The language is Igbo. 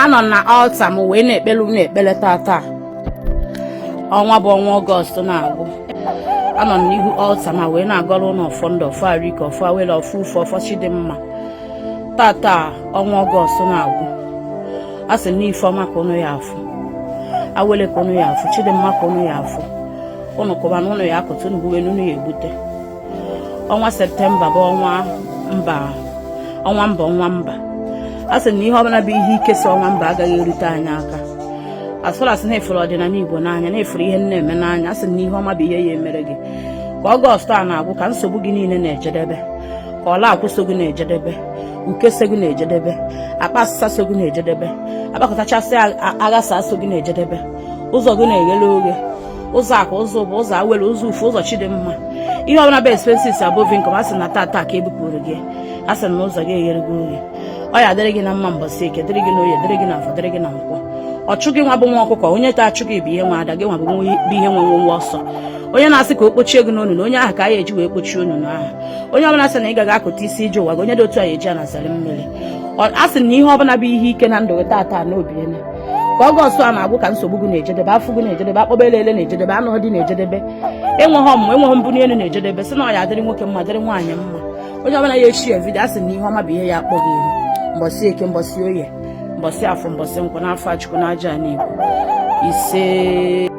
anọ na alta m wee na-ekpere unu ekpere tata ọnwa bụ ọnwa ọgọst na-agwụ anọ m n'ihu alta ma wee na-agọrọ unu ọfọ ndụ ọfọ arụike ọfọ awele ọfọ ufe ọfọ chidimma tata ọnwa ọgọst na-agwụ a sị na ife ọma ka unu ya afụ awele ka unu ya afụ chidimma ka unu ya afụ unu kụba na unu ya akụta unu gbube na unu ya egbute ọnwa septemba bụ ọnwa mba ọnwa mba a sị na ihe ọbụla bụ ihe ike so ọnwa mba agaghị erute anyị aka as long as na ị fụrụ ọdịnala igbo n'anya na ị fụrụ ihe m na-eme n'anya a sị na ihe ọma bụ ihe ya emere gị ka ọgọstụ a na-agwụ ka nsogbu gị niile na-ejedebe ka ọla akwụ so gị na-ejedebe uke so gị na-ejedebe akpa asịsa so gị na-ejedebe akpakọtachasị aghasa so gị na-ejedebe ụzọ gị na-eghele oghe ụzọ akụ ụzọ ụba ụzọ awele ụzọ ufe ụzọ chidimma ihe ọbụla bụ expenses above income a sị na tata ka e bupụrụ gị a sị na ụzọ gị eghere gị oghe ọ ya adịrị gị na mma mbọsị eke dịrị gị na oye dịrị gị na afọ dịrị gị na nkwọ ọchụ gị nwa bụ nwa ọkụkọ onye na-achụ gị bụ onye nwe ada gị nwa bụ onye nwe nwenwe ọsọ onye na-asị ka o kpochie gị n'onunu onye ahụ ka a ya eji wee kpochie onunu ahụ onye ọbụla sị na ị gaghị akụta isi ije ụwa gị onye dị otu a ya eji ana zere mmiri a sị na ihe ọbụla bụ ihe ike na ndụ gị tata n'obi ka ọgọstụ a na-agwụ ka nsogbu gị na-ejedebe afụ gị na-ejedebe akpọba ele ele na-ejedebe anụ di na-ejedebe enweghị ọmụmụ enweghị mbunye elu na-ejedebe sị na ọ ya adịrị nwoke mma dịrị nwaanyị mma onye ọbụla ya share vidio a sị na ihe ọma bụ ihe ya akpọ gị ihu mbọsị eke mbọsị oye mbọsị afọ mbọsị nkwọ n'afa chukwu na ajana igbo isee